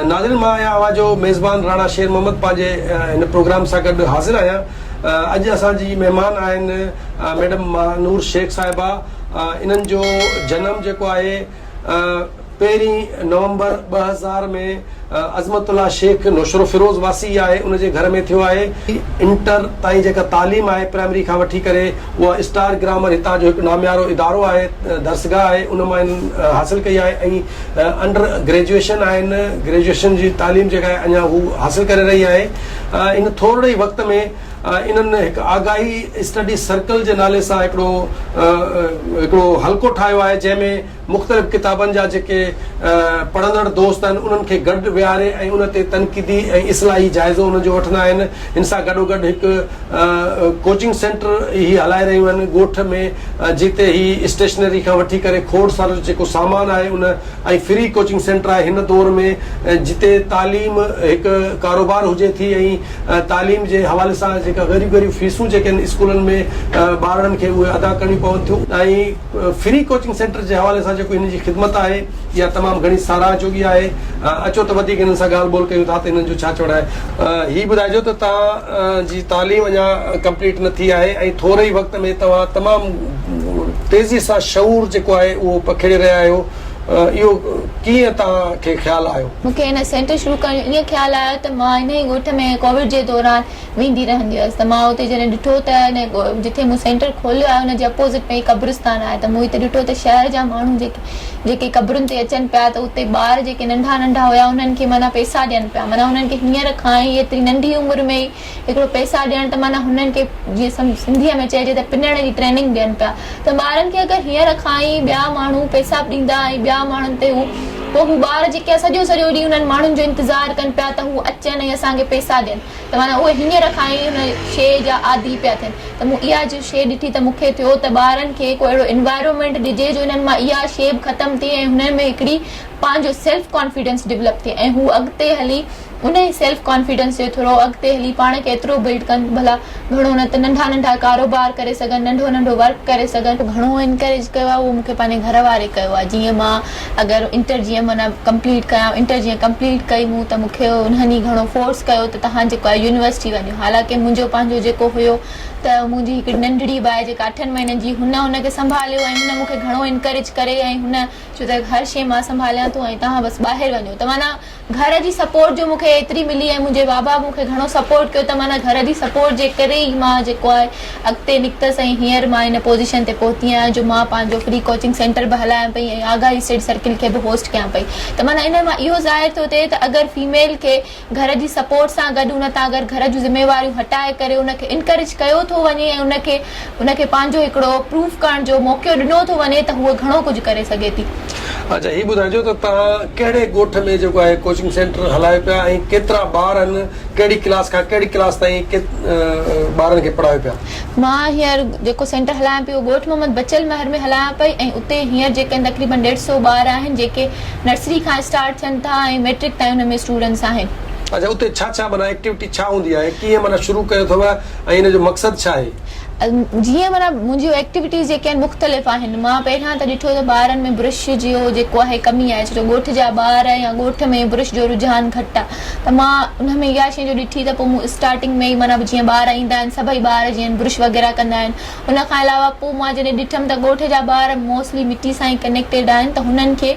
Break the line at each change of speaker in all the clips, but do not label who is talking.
ناظرين مان آهيان اوهان جو ميزبان راڻا شير محمد پنهنجي هن پروگرام سان گڏ حاضر آهيان اڄ اسان جي مهمان آهن ميڊم ماهنور شيخ صاحبه انهن جو جنم جيڪو آهي پهرين نومبر ٻه هزار ۾ عظمت الله شيخ نوشهروفيروز واسي آهي ان جي گهر ۾ ٿيو آهي انٽر تائين جيڪا تعليم آهي پرائمري کان وٺي ڪري اها اسٽار گرامر هتان جو هڪ ناميارو ادارو آهي درسگاهه آهي ان مان انهن حاصل ڪئي آهي ۽ انڊر گريجوئيشن آهن گريجوئيشن جي تعليم جيڪا آهي اڃا هو حاصل ڪري رهي آهي ان ٿورڙي ئي وقت ۾ انهن هڪ آگاهي اسٽڊي سرڪل جي نالي سان هڪڙو هڪڙو حلقو ٺاهيو آهي جنهن ۾ مختلف ڪتابن جا جيڪي پڙهندڙ دوست آهن انهن کي گڏ ويهاري ۽ ان تي تنقيدي ۽ اصلاحي جائزو انهن جو وٺندا آهن ان سان گڏوگڏ هڪ ڪوچنگ سينٽر هي هلائي رهيون آهن ڳوٺ ۾ جتي هي اسٽيشنري کان وٺي ڪري کوڙ سارو جيڪو سامان آهي ان ۽ فري ڪوچنگ سينٽر آهي هن دور ۾ جتي تعليم هڪ ڪاروبار هجي ٿي ۽ تعليم جي حوالي سان جيڪا ڳريون ڳريون فيسون جيڪي آهن اسڪولن ۾ ٻارڙن کي اهي ادا ڪرڻيون پون ٿيون ۽ فري ڪوچنگ سينٽر جي حوالي سان جيڪو هنن جي خدمت آهي اها تمام گهڻي ساراهه جوڳي آهي اچو ته وڌيڪ هنن سان ڳالهه ٻولهه ڪيون ٿا ته هنن جو ڇا چوڻ آهي هي ٻڌائجو ته توهان جي تعليم اڃا ڪمپليٽ نه ٿي آهي ۽ ٿوري ئي وقت ۾ توهان تمام تيزي سان شعور جيڪو آهي اهو پکيڙي رهيا آهيو اهو ڪيئن توهان کي خيال آيو. مون کي هن سينٽر شروع
ڪرڻ جو ائين خيال آيو ته مان انهيء ڳوٺ ۾ ڪووڊ جي دوران ويندي رهندي هيس ته مان اتي جڏهن ڏٺو ته ان جتي مون سينٽر کوليو آهي ان جي اپوزٽ ۾ ئي قبرستان آهي ته مون اتي ڏٺو ته شهر جا ماڻهو جيڪي قبرن تي اچن پيا ته اتي ٻار جيڪي ننڍا ننڍا هيا انهن کي معنيٰ پئسا ڏين پيا معنيٰ انهن کي هينئر کان ئي ايتري ننڍي عمر ۾ ئي هڪڙو پئسا ڏيڻ ته معنيٰ هنن کي جيئن سنڌي ۾ چئجي ته پنڻ جي ٽريننگ ڏين پيا ته ٻارن کي اگر هينئر کان ئي ٻيا ماڻهو پئسا ڏيندا ۽ ٻيا ماڻهن تي هو پوء هو ٻار جيڪي سڄو سڄو ڏينهن انهن ماڻهن جو انتظار ڪن پيا ته هو اچن ۽ اسان کي پئسا ڏين ته معنيٰ اهي هينئر کان ئي ان شيء جا عادي پيا ٿين ته مون اها جي شيء ڏٺي ته مون کي ٿيو ته ٻارن کي ڪو اهڙو انوائرمينٽ ڏجي جو انهن مان اها شيء به ختم ٿئي ۽ هنن ۾ هڪڙي پنهنجو سيلف ڪانفيڊنس ڊولپ ٿئي ۽ هو اڳتي هلي انهي سيلف ڪانفيڊنس جي ٿرو اڳتي هلي پاڻ کي ايترو بلڊ ڪن ڀلا گهڻو نه ته ننڍا ننڍا ڪاروبار ڪري سگهن ننڍو ننڍو ورڪ ڪري سگهن. گهڻو انڪريج ڪيو آهي اهو مون کي پنهنجي گهر واري ڪيو آهي جيئن مان اگر انٽر جيئن معنيٰ ڪمپليٽ ڪيان انٽر جيئن ڪمپليٽ ڪئي مون ته مون کي انهن ئي گهڻو فورس ڪيو ته توهان جيڪو آهي يونيورسٽي وڃو حالانڪه منهنجو پنهنجو جيڪو هيو ته منهنجي هڪڙي ننڍڙي باهه جيڪا اٺن مهينن جي هن ان کي سنڀاليو ۽ هن مون کي گهڻو انڪريج ڪري ۽ هن چيو ته هر شيء مان سنڀاليان ٿو ۽ توهان بس ٻاهر وڃو ته معنيٰ گهر جي سپورٽ جو مون کي ايتري ملي ۽ منهنجي بابا مون کي گهڻو سپورٽ ڪيو ته معنيٰ گهر جي سپورٽ جي ڪري ئي مان جيڪو آهي اڳتي نڪتس ۽ هينئر مان ان پوزيشن تي پهتي آهيان جو مان پنهنجو فري ڪوچنگ سينٽر به هلايان پئي ۽ آگاهي اسٽڊي سرڪل کي به هوسٽ ڪيان پئي ته معنيٰ ان مان اهو ظاهر ٿو ٿئي ته اگر فيميل کي گهر جي سپورٽ سان گڏ ان تان اگر گهر جون ذميواريون هٽائي ڪري ان کي انڪريج ڪيو ٿو وڃي ۽ ان کي ان کي پنهنجو هڪڙو پروف ڪرڻ جو موقعو ڏنو ٿو وڃي ته هوء گهڻو ڪجهه ڪري سگهي ٿي. اچا هي ٻڌائجو
ته توهان ڪهڙي ڳوٺ ۾ جيڪو آهي ڪوچنگ سينٽر هلايو پيا ۽ ڪيترا ٻار آهن ڪهڙي ڪلاس کان ڪهڙي ڪلاس تائين ٻارن کي پڙهايو پيا. مان هينئر
جيڪو سينٽر هلايان پيو اهو ڳوٺ محمد بچل مهر ۾ هلايان پئي ۽ اتي هينئر جيڪي تقريبن ڏيڍ سئو ٻار آهن جيڪي نرسري کان اسٽارٽ ٿين ٿا ۽ مئٽرڪ تائين ان ۾ اسٽوڊنٽس آهن. اچا اتي ڇا ڇا معنيٰ
ايڪٽيوٽي ڇا هوندي آهي ڪيئن معنيٰ شروع ڪيو اٿو. ۽ ان جو مقصد ڇا آهي؟ جيئن معنيٰ
منهنجيون ايڪٽيوٽيز جيڪي آهن مختلف آهن مان پهريان ته ڏٺو ته ٻارن ۾ برش جيو جيڪو آهي ڪمي آهي ڇو جو ڳوٺ جا ٻار يا ڳوٺ ۾ برش جو رجحان گهٽ آهي ته مان انهن ۾ اها شئي جو ڏٺي ته پوء مون اسٽارٽنگ ۾ ئي معنيٰ جيئن ٻار ايندا آهن سڀئي ٻار جيئن برش وغيره ڪندا آهن ان کان علاوه پوء مان جڏهن ڏٺم ته ڳوٺ جا ٻار موسٽلي مٽي سان ئي ڪنيڪٽيڊ آهن ته هنن کي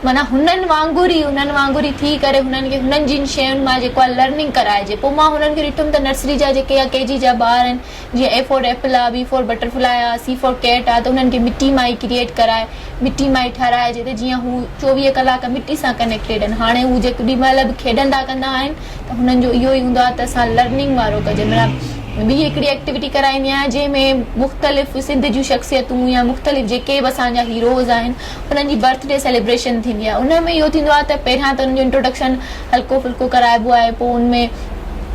معنيٰ هنن وانگر ئي هنن وانگر ئي ٿي ڪري هنن کي هنن جين شين مان جيڪو آهي لرننگ ڪرائجي پوء مان هنن کي ڏٺم ته نرسري جا جيڪي يا ڪي جي جا ٻار آهن جيئن اي فور ايپل آهي بي فور بٽر فلائي آهي سي فور ڪيٽ آهي ته انهن کي مٽي مان ئي ڪريئيٽ ڪرائي مٽي مان ئي ٺهرائجي ته جيئن هو چوويهه ڪلاڪ مٽي سان ڪنيڪٽيڊ آهن هاڻي هو جيڪڏهن مهل به کيڏندا ڪندا آهن هنن جو اهو ئي هوندو آهي ته اسان لرننگ وارو ڪجن مطلب ٻي هڪڙي ايڪٽيوٽي ڪرائيندي آهيان جنهن ۾ مختلف سنڌ جون شخصيتون يا مختلف جيڪي به اسان جا هيروز آهن انهن جي برٿ ڊي سيليبريشن ٿيندي آهي ان ۾ اهو ٿيندو آهي ته پهريان ته انهن جو انٽروڊڪشن هلڪو ڦلڪو ڪرائبو آهي پوء ان ۾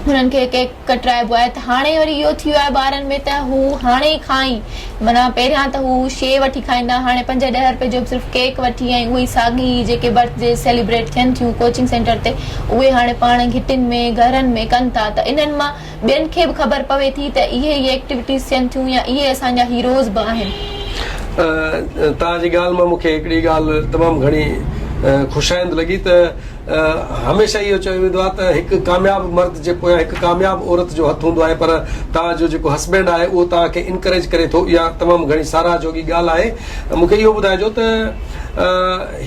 هنن کي ڪيڪ ڪٽرائبو آهي ته هاڻي وري اهو ٿي ويو آهي ٻارن ۾ ته هو هاڻي کان ئي معنيٰ پهريان ته هو شيء وٺي کائيندا هاڻي پنج ڏهه رپئي جو به صرف ڪيڪ وٺي ۽ اهي ئي ساڳي جيڪي برٿ ڊيز سيليبريٽ ٿين ٿيون ڪوچنگ سينٽر تي اهي هاڻي پاڻ گهٽين ۾ گهرن ۾ ڪن ٿا ته انهن مان ٻين کي به خبر پوي ٿي ته اهي ئي ايڪٽيوٽيز ٿين ٿيون يا اهي اسان جا هيروز به آهن.
توهان جي ڳالهه مان مون کي هڪڙي ڳالهه تمام گهڻي خوشائند لڳي ته. هميشه اهو چيو ويندو آهي ته هڪ ڪامياب مرد جي پويان هڪ ڪامياب عورت جو هٿ هوندو آهي پر توهان جو جيڪو هسبينڊ آهي اهو توهان کي انڪريج ڪري ٿو اها تمام گهڻي ساراهه جوڳي ڳالهه آهي مون کي اهو ٻڌائجو ته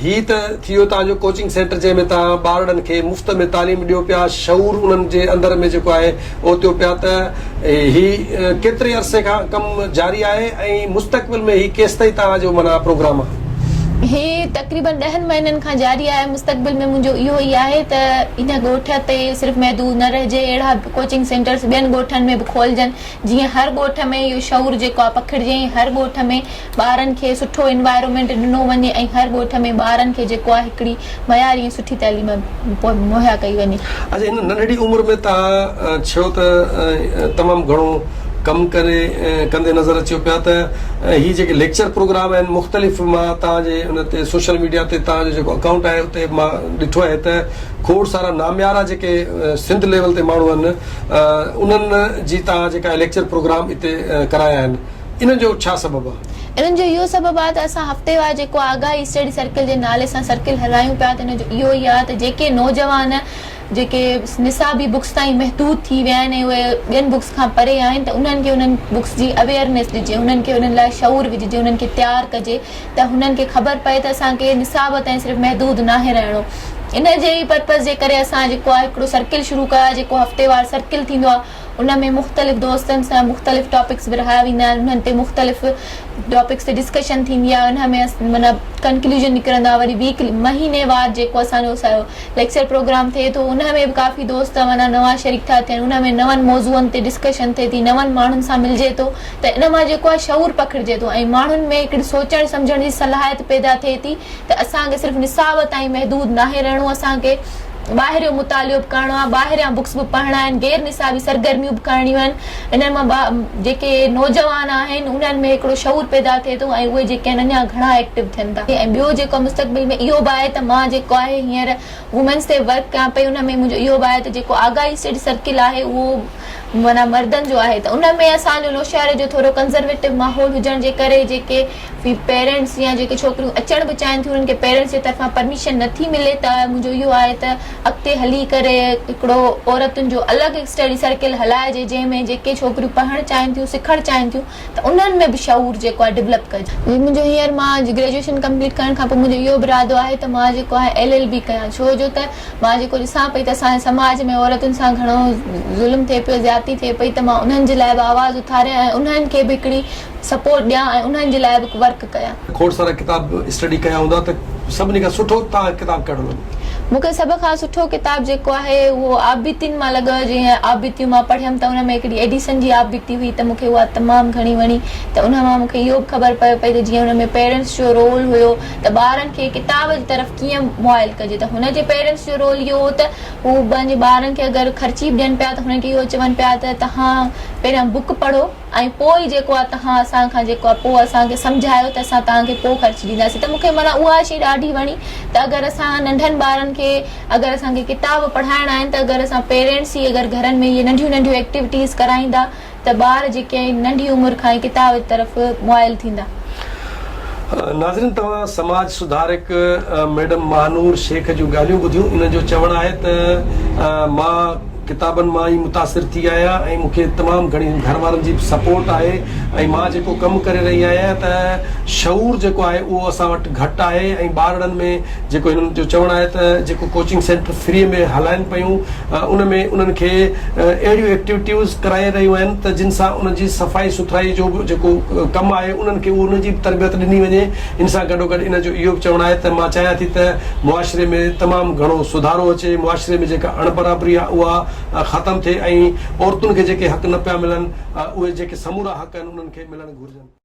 هي ته ٿي ويو توهان جو ڪوچنگ سينٽر جنهن ۾ توهان ٻارڙن کي مفت ۾ تعليم ڏيو پيا شعور انهن جي اندر ۾ جيڪو آهي او ٿيو پيا ته هي ڪيتري عرصي کان ڪم جاري آهي ۽ مستقبل ۾ هي ڪيستائين توهان جو معنيٰ پروگرام آهي؟ هي
تقريباً ڏهن مهينن کان جاري آهي، مستقبل ۾ منهنجو اهو ئي آهي ته هن ڳوٺ تي صرف محدود نه رهجي، اهڙا ڪوچنگ سينٽرز ٻين ڳوٺن ۾ به کولجن، جيئن هر ڳوٺ ۾ اهو شعور جيڪو آهي پکڙجي ۽ هر ڳوٺ ۾ ٻارن کي سٺو انوائرمينٽ ڏنو وڃي ۽ هر ڳوٺ ۾ ٻارن کي جيڪو آهي هڪڙي معياري ۽ سٺي تعليم مهيا ڪئي وڃي. اچا هن ننڍڙي
عمر ۾ توهان ڇو ته تمام گهڻو ڪم ڪري ڪندي نظر اچيو پيا ته هي جيڪي ليڪچر پروگرام آهن مختلف مان توهان جي ان تي سوشل ميڊيا تي توهان جو جيڪو اڪائونٽ آهي اتي مان ڏٺو آهي ته کوڙ سارا ناميارا جيڪي سنڌ ليول تي ماڻهو آهن انهن جي توهان جيڪا ليڪچر پروگرام اتي ڪرايا آهن انهن جو ڇا سبب آ؟ انهن جو اهو سبب آ
ته اسان هفتيوار جيڪو آگاهي اسٽڊي سرڪل جي نالي سان سرڪل هلايون پيا ته ان جو اهو ئي آ ته جيڪي نوجوان جيڪي نصابي بڪس تائين محدود ٿي ويا آهن ۽ اهي ٻين بڪس کان پري آهن ته انهن کي انهن بڪس جي اويئرنيس ڏجي انهن کي انهن لاء شعور وجهجي انهن کي تيار ڪجي ته هنن کي خبر پئي ته اسان کي نصاب تائين صرف محدود ناهي رهڻو ان جي ئي پرپز جي ڪري اسان جيڪو آ هڪڙو سرڪل شروع ڪيو آ جيڪو هفتيوار سرڪل ٿيندو آ ان ۾ مختلف دوستن سان مختلف ٽاپڪس ورهايا ويندا آهن انهن تي مختلف ٽاپڪس تي ڊسڪشن ٿيندي آهي انهن ۾ معنيٰ ڪنڪليوجن نڪرندو آهي وري ويڪ مهيني وار جيڪو اسان جو سارو ليڪچر پروگرام ٿئي ٿو ان ۾ به ڪافي دوست معنيٰ نوان شريڪ ٿا ٿين ان ۾ نون موضوعن تي ڊسڪشن ٿئي ٿي نون ماڻهن سان ملجي ٿو ته ان مان جيڪو آهي شعور پکڙجي ٿو ۽ ماڻهن ۾ هڪڙي سوچڻ سمجهڻ جي صلاحيت پيدا ٿئي ٿي ته اسان کي صرف نصاب تائين محدود ناهي رهڻو اسان کي ٻاهريون مطالعو به ڪرڻو آهي ٻاهريان بڪس به پڙهڻا آهن غير نصابي سرگرميون به ڪرڻيون آهن انهن مان جيڪي نوجوان آهن انهن ۾ هڪڙو شعور پيدا ٿئي ٿو ۽ اهي جيڪي آهن اڃان گهڻا ايڪٽو ٿين ٿا ۽ ٻيو جيڪو آهي مستقبل ۾ اهو به آهي ته مان جيڪو آهي هينئر وومينس تي ورڪ ڪيان پئي ان ۾ منهنجو اهو به آهي ته جيڪو آگاهي سيڙهه سرڪل آهي اهو معنيٰ مردن جو آهي ته ان ۾ اسان جو نوشهري جو ٿورو ڪنزرويٽو ماحول هجڻ جي ڪري جيڪي ڀي پيرنٽس يا جيڪي ڇوڪريون اچڻ به چاهين ٿيون انهن کي پيرنٽس جي طرفان پرميشن نه ٿي ملي ته منهنجو اهو آهي ته اڳتي هلي ڪري هڪڙو عورتن جو الڳ اسٽڊي سرڪل هلائجي جنهن ۾ جيڪي ڇوڪريون پڙهڻ چاهين ٿيون سکڻ چاهين ٿيون ته انهن ۾ به شعور جيڪو آهي ڊولپ ڪجي. جي منهنجو هينئر مان گريجوئيشن ڪمپليٽ ڪرڻ کان پوء منهنجو اهو به ارادو آهي ته مان جيڪو آهي ايل ايل بي ڪيان ڇو جو ته مان جيڪو ڏسان پئي ته اسان جي سماج ۾ عورتن سان گهڻو ظلم ٿئي پيو زيادتي ٿئي پئي ته مان انهن جي لاء به آواز اٿاريان ۽ انهن کي به هڪڙي سپورٽ ڏيان ۽ انهن جي لاء به ورڪ ڪيان. کوڙ سارا ڪتاب
اسٽڊي ڪيا هوندا ته سڀني کان سٺو توهان ڪتاب ڪهڙو لڳو؟ مون کي سڀ
کان سٺو ڪتاب جيڪو آهي اهو آبيتين مان لڳو جنهن آبيتيون مان پڙهيم ته ان ۾ هڪڙي ايڊيسن جي آبيتي هئي ته مون کي اها تمام گهڻي وڻي ته ان مان مون کي اهو به خبر پئي پئي ته جيئن ان ۾ پيرنٽس جو رول هيو ته ٻارن کي ڪتاب جي طرف ڪيئن موائل ڪجي ته هن جي پيرنٽس جو رول اهو هو ته هو پنهنجي ٻارن کي اگر خرچي به ڏين پيا ته هنن کي اهو چون پيا ته توهان پهريان بوڪ پڙهو ۽ پوء جيڪو آ تهان اسان کان جيڪو آ پوء اسان کي سمجهايو ته اسان توهان کي پوء خرچ ڏينداسين ته مونکي معنيٰ اها شي ڏاڍي وڻي ته اگر اسان ننڍن ٻارن کي اگر اسان کي ڪتاب پڙهائڻا آهن ته اگر اسان پيرينٽس ئي اگر گهرن ۾ اهي ننڍيون ننڍيون ايڪٽيوٽيز ڪرائيندا ته ٻار جيڪي آهن ننڍي عمر کان ئي ڪتاب جي طرف موائل ٿيندا. ناظرين
توهان سماج سڌارڪ ميڊم ماهنور شيخ جون ڳالهيون ٻڌيون انهن جو چوڻ آهي ته مان ڪتابن مان ئي متاثر ٿي آهيان ۽ مون کي تمام گهڻي گهر وارن جي به سپورٽ آهي ۽ مان جيڪو ڪم ڪري رهي آهيان ته شعور جيڪو آهي اهو اسان وٽ گهٽ آهي ۽ ٻارڙن ۾ جيڪو هنن جو چوڻ آهي ته جيڪو ڪوچنگ سينٽر فري ۾ هلائن پيون ان ۾ انهن کي اهڙيون ايڪٽيوٽيوز ڪرائي رهيون آهن ته جن سان انهن جي صفائي سٿرائي جو به جيڪو ڪم آهي انهن کي ان جي به تربيت ڏني وڃي ان سان گڏوگڏ ان جو اهو به چوڻ آهي ته مان چاهيان ٿي ته معاشري ۾ تمام گهڻو سڌارو اچي، معاشري ۾ جيڪا اڻبرابري آهي اها ختم ٿئي ۽ عورتن کي جيڪي حق نه پيا ملن اهي جيڪي سمورا حق آهن انهن کي ملڻ گهرجن.